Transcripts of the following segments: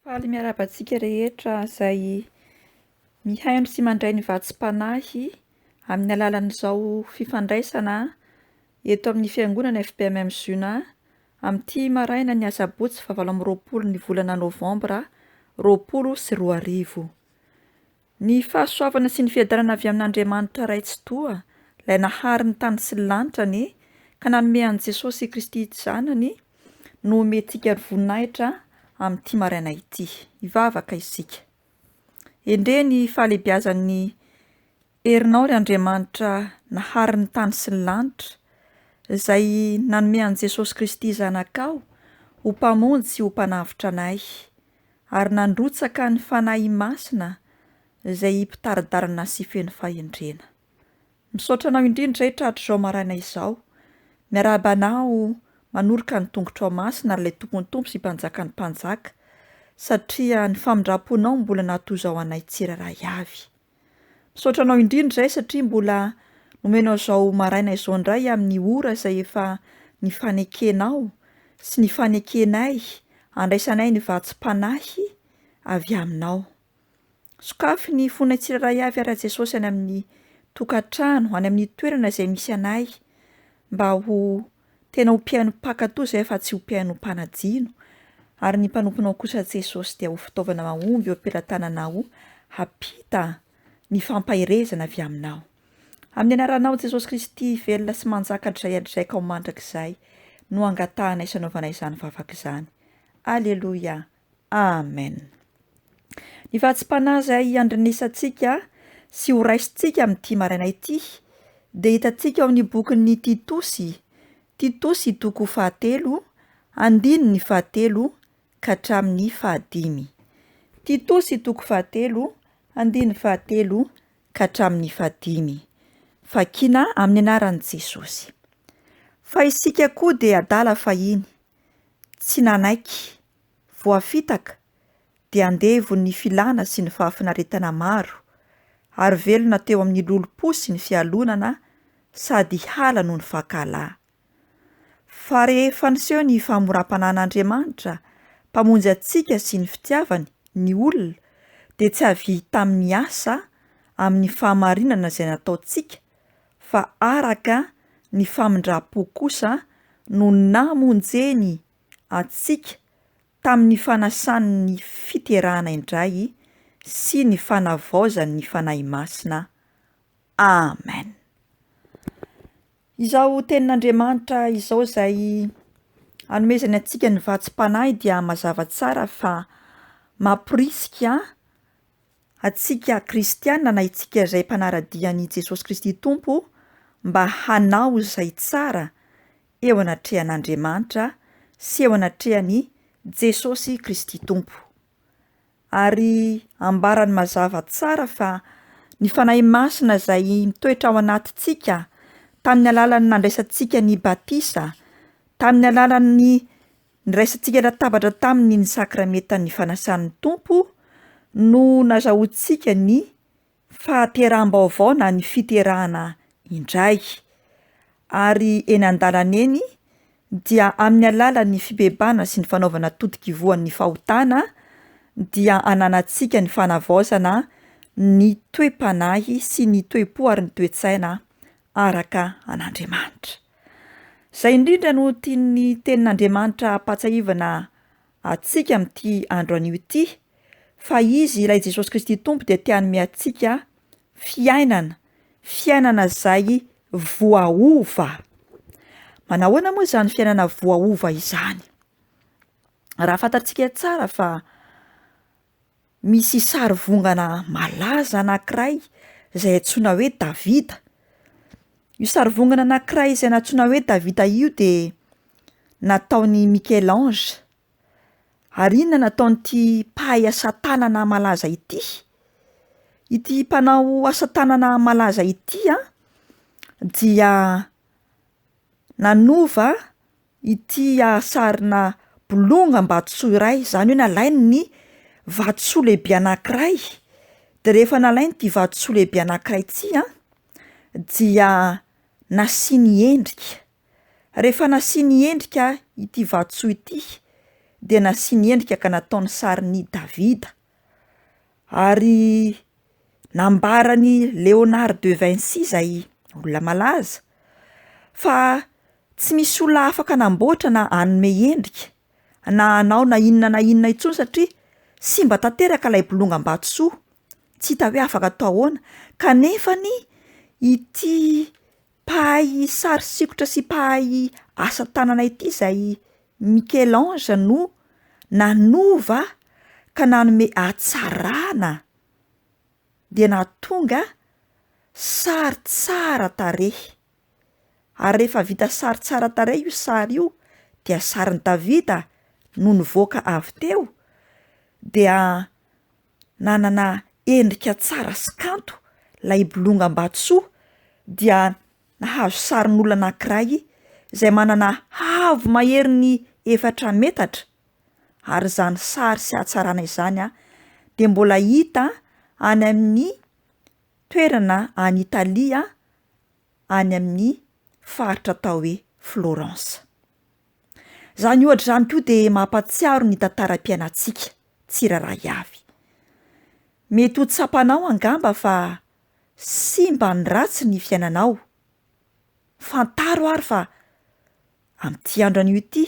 Faly miarahaba antsika rehetra izay mihaino sy mandray ny vatsim-panahy amin'ny alalan'izao fifandraisana eto amin'ny fiangonana FPMM Zuna amin'ity marainan'ny asabotsy fahavalo amby roapolo ny volana novambra roapolo sy roa arivo. Ny fahasoavana sy ny fiadanana avy amin'Andriamanitra Ray Tsitoha, Ilay nahary ny tany sy ny lanitra anie, ka nanome an'i Jesosy Kristy Zanany, no omentsika ny voninahitra amin'ity maraina ity. Hivavaka isika. Endrey ny fahalehibiazan'ny herinao ry Andriamanitra nahary ny tany sy ny lanitra, Izay nanome an'i Jesosy Kristy Zanakao ho Mpamonjy sy ho Mpanavotra anay. ary nandrotsaka ny Fanahy Masina izay mpitari-dalana sy feno fahendrena. Misaotra anao indrindra Hetra hatrizao maraina izao, miarahaba anao manoroka ny tongotrao masina ry ilay Tompon'ny Tompo sy Mpanjakan'ny Mpanjaka satria ny famindram-ponao mbola natozao anay tsirairay avy. Misaotra anao indrindra izay satria mbola nomenao izao maraina izao indray amin'ny ora izay efa nifanekenao sy nifanekenay handraisanay ny vatsim-panahy avy aminao. Sokafy ny fonay tsirairay avy ary Jesosy any amin'ny tokantrano, any amin'ny toerana izay misy anay mba ho Tena ho mpihaino mpankatò izay fa tsy ho mpihaino mpanadino, ary ny mpanomponao kosa Jesosy dia ho fitaovana mahomby eo am-pelatananao hampita ny fampaherezana avy aminao. Amin'ny anaranao Jesosy Kristy velona sy manjaka hatrizay hatrizaika ho mandrakizay no angatahanay sy anaovanay izany vavaka izany. Aleloia. Amen. Ny fahatsim-panahy izay iandrenesantsika sy horaisintsika amin'ity maraina ity dia hitantsika ao amin'ny bokin'ny Titosy, Titosy toko fahatelo, andininy fahatelo ka hatramin'ny fahadimy. Titosy toko fahatelo, andininy fahatelo ka hatramin'ny fahadimy. Vakina amin'ny anaran'i Jesosy. Fa isika koa dia adala fahiny, Tsy nanaiky. Voafitaka, dia andevo ny filana sy ny fahafinaretana maro, ary velona teo amin'ny lolompo sy ny fialonana sady hiala noho ny fankalahy. Fa rehefa niseho ny famoram-panan'Andriamanitra, Mpamonjy antsika sy ny fitiavany, ny olona, dia tsy avy tamin'ny asa, amin'ny fahamarinana izay nataontsika, fa araka ny famindram-po kosa no namonjeny antsika tamin'ny fanasany ny fiterahana indray sy ny fanavaozany ny Fanahy Masina. Amen. Izao tenin'Andriamanitra izao izay anomezany antsika ny vatsim-panahy dia mazava tsara fa mamporisika antsika kristiana na itsika izay mpanara-dia an'i Jesosy Kristy Tompo mba hanao izay tsara eo anatrehan'Andriamanitra sy eo anatrehan'i Jesosy Kristy Tompo. Ary ambarany mazava tsara fa ny Fanahy Masina izay mitoetra ao anatintsika tamin'ny alalan'ny nandraisantsika ny batisa, tamin'ny alalan'ny Niraisantsika latabatra taminy ny Sakramentan'ny Fanasan'ny Tompo no nazahoantsika ny fahateraham-baovao na ny fiterahana indray. Ary eny an-dalana eny dia amin'ny alalan'ny fibebana sy ny fanaovana totok'ivohan'ny fahotana dia ananantsika ny fanavaozana ny toe-panahy sy ny toe-po ary ny toe-tsaina araka an'Andriamanitra. Izay indrindra no tian'ny Tenin'Andriamanitra hampahatsiahivana antsika amin'ity andro anio ity, fa Izy Ilay Jesosy Kristy Tompo dia te hanome antsika fiainana, fiainana izay voaova. Manahoana moa izany fiainana voaova izany? Raha fantatsika tsara fa Misy sarivongana malaza anankiray izay antsoina hoe Davida. Io sarivongana anankiray izay nantsoina hoe Davida io de nataon'i Michel Ange. Ary inona no nataon'ity mpahay asa tanana malaza ity? Ity mpanao asa tanana malaza ity a dia nanova ity sarina bolongam-batosoa iray, izany hoe nalainy ny vatosoa lehibe anankiray, de rehefa nalainy ity vatosoa lehibe anankiray ity a dia nasiany endrika, rehefa nasiany endrika ity vatosoa ity dia nasiany endrika ka nataony sarin'i Davida. Ary nambaran'i Léonard de Vinci izay olona malaza fa tsy misy olona afaka hanamboatra na hanome endrika na hanao na inona na inona intsony satria simba tanteraka ilay bolongam-batosoa, tsy hita hoe afaka atao ahoana, kanefany ity Mpahay sary sikotra sy mpahay asa tanana ity izay Michel-Ange no nanova ka nanome hatsarana dia nahatonga sary tsara tarehy. Ary rehefa vita sary tsara tarehy io sary io dia sarin'i Davida no nivoaka avy teo dia nanana endrika tsara sy kanto ilay bolonga Ambatosoa dia nahazo sarin'olona anankiray izay manana haavo maherin'ny efatra metatra ary izany sary sy hatsarana izany dia mbola hita any amin'ny toerana any Italia any amin'ny faritra atao hoe Florence. Izany ohatra izany koa dia mampahatsiaro ny tantaram-piainantsika tsirairay avy. Mety ho tsapanao angamba fa simba ny ratsy ny fiainanao. Fantaro ary fa amin'ity andro anio ity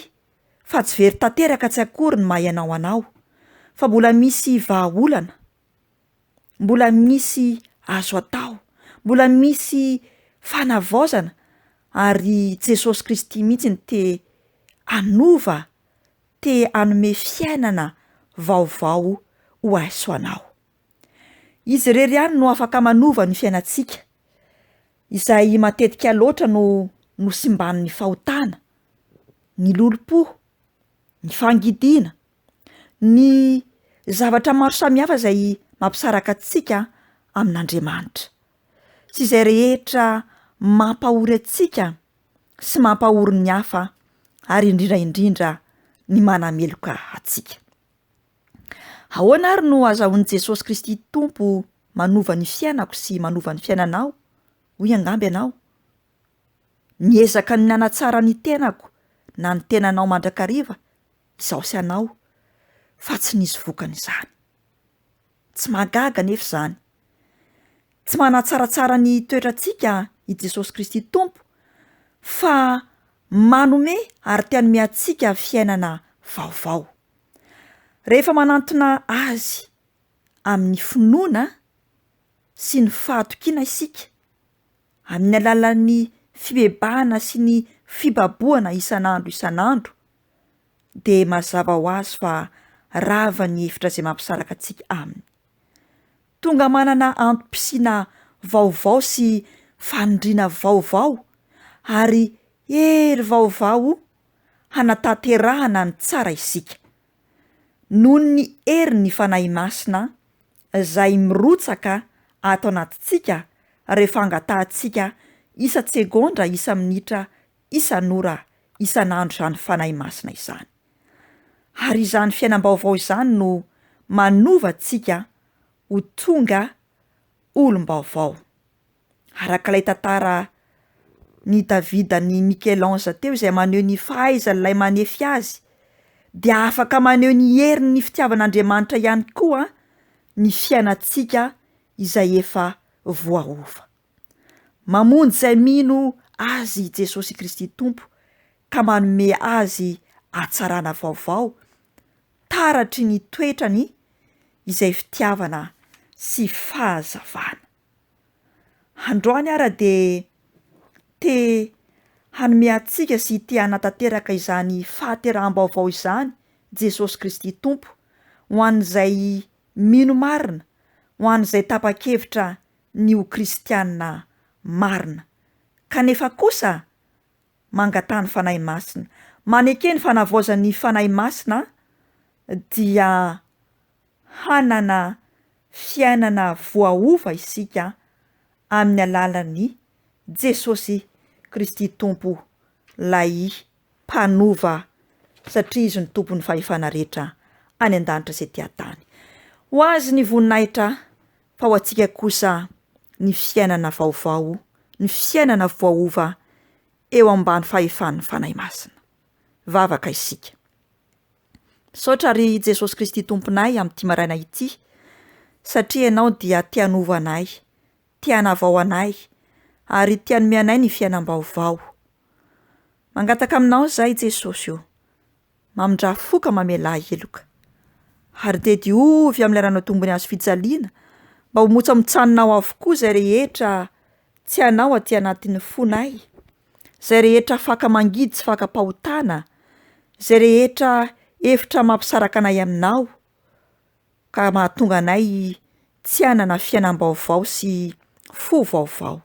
fa tsy very tanteraka tsy akory ny maha ianao anao, fa mbola misy vahaolana mbola misy azo atao, mbola misy fanavaozana ary i Jesosy Kristy mihitsy no te hanova, te hanome fiainana vaovao ho ahy sy ho anao. Izy irery ihany no afaka manova ny fiainantsika, izay matetika loatra no nosimban'ny fahotana, ny lolompo, ny fangidiana, ny zavatra maro samihafa izay mampisaraka antsika amin'Andriamanitra sy izay rehetra mampahory antsika sy mampahory ny hafa ary indrindra indrindra ny manameloka antsika. Ahoana ary no azahoan'i Jesosy Kristy Tompo manova ny fiainako sy manova ny fiainanao? hoy angamba ianao. Miezaka ny hanatsara ny tenako na ny tenanao mandrakariva Izaho sy anao fa tsy nisy vokany izany. Tsy mahagaga anefa izany. Tsy manatsaratsara ny toetrantsika i Jesosy Kristy Tompo fa manome ary te hanome antsika fiainana vaovao. Rehefa manantona Azy amin'ny finoana sy ny fahatokiana isika amin'ny alalan'ny fibebahana sy ny fibabohana isan'andro isan'andro, dia mazava ho azy fa rava ny hevitra izay mampisaraka antsika aminy. Tonga manana antom-pisiana vaovao sy fanindriana vaovao ary hery vaovao hanatanterahana ny tsara isika. noho ny herin'ny Fanahy Masina izay mirotsaka ato anatintsika rehefa angatahantsika isan-tsegondra, isa-minitra, isan'ora, isan'andro izany Fanahy Masina izany. Ary izany fiainam-baovao izany no manova antsika ho tonga olom-baovao. araka ilay tantara Ny David an'i Michel Ange teo izay maneho ny fahaizan'ilay manefy azy dia afaka maneho ny herin'ny fitiavan'Andriamanitra ihany koa ny fiainantsika izay efa voaova. Mamonjy izay mino Azy i Jesosy Kristy Tompo ka manome azy hatsarana vaovao, taratry ny toetrany izay fitiavana sy fahazavana. Androany ara dia te hanome antsika sy te hanatanteraka izany fahateraham-baovao izany Jesosy Kristy Tompo, ho an'izay mino marina, ho an'izay tapa-kevitra ny ho kristiana marina. Kanefa kosa, mangataha ny Fanahy Masina. Maneke ny fanavaozan'ny Fanahy Masina dia hanana fiainana voaova isika amin'ny alalan'i Jesosy Kristy Tompo Ilay Mpanova satria Izy no Tompon'ny fahefana rehetra any an-danitra sy ety an-tany. Ho Azy ny voninahitra fa ho antsika kosa ny fiainana vaovao, ny fiainana voaova eo ambany fahefan'ny Fanahy Masina. vavaka isika. Misaotra ry Jesosy Kristy Tomponay amin'ity maraina ity satria Ianao dia te hanova anay, te hanavao anay ary te hanome anay ny fiainam-baovao. Mangataka Aminao izahay Jesosy o, mamindrà fo ka mamelà heloka. Ary dia diovy amin'ilay ranao tombony azo fijaliana mba ho motsamotsànonao avokoa izay rehetra tsy Anao aty anatin'ny fonay. Zay rehetra faka mangidy sy fakam-pahotana, Zay rehetra hevitra mampisaraka anay aminao ka mahatonga anay tsy hanana fiainam-baovao sy fo vaovao.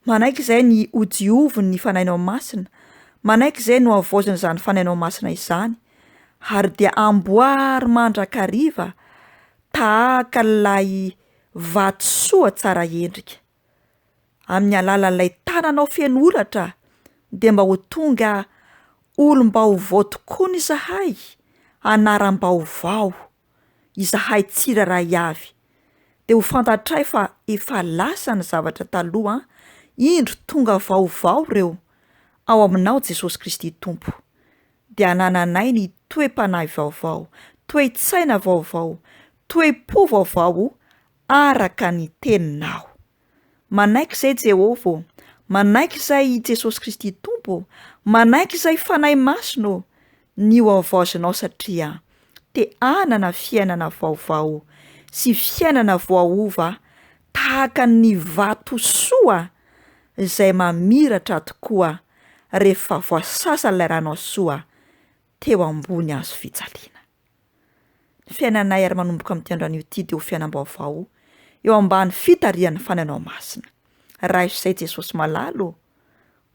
Manaiky izay ny hodiovin' ny Fanahinao Masina, manaiky izay no havaozin' izany Fanahinao Masina izany, ary dia amboary mandrakariva tahaka ilay vatosoa tsara endrika. amin'ny alalan'ilay tananao feno holatra dia mba ho tonga olom-baovao tokoa ny zahay, anaram-baovao, izahay tsirairay avy, dia ho fantatray fa efa lasa ny zavatra taloha an, indro tonga vaovao ireo, ao aminao Jesosy Kristy Tompo, dia anananay ny toe-panahy vaovao, toe-tsaina vaovao, toe-po vaovao araka ny Teninao. Manaiky izay Jehovah ô, manaiky izay i Jesosy Kristy Tompo ô, manaiky izay Fanahy Masina ô, ny ho havaozinao satria te hanana fiainana vaovao sy fiainana voaova tahaka ny vatosoa izay mamiratra tokoa rehefa voasasan'ilay Ranao Soa teo ambony hazo fijaliana. Ny fiainanay ary manomboka amin'ity androany ity dia ho fiainam-baovao eo ambany fitarihan'ny Fanahinao Masina. Raiso izay Jesosy malala ô!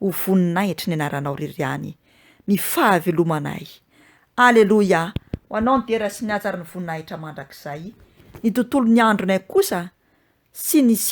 Ho voninahitry ny Anaranao irery ihany ny fahavelomanay. Aleloia! Ho Anao ny dera sy ny haja ary ny voninahitra mandrakizay. Ny tontolon'ny andronay kosa sy ny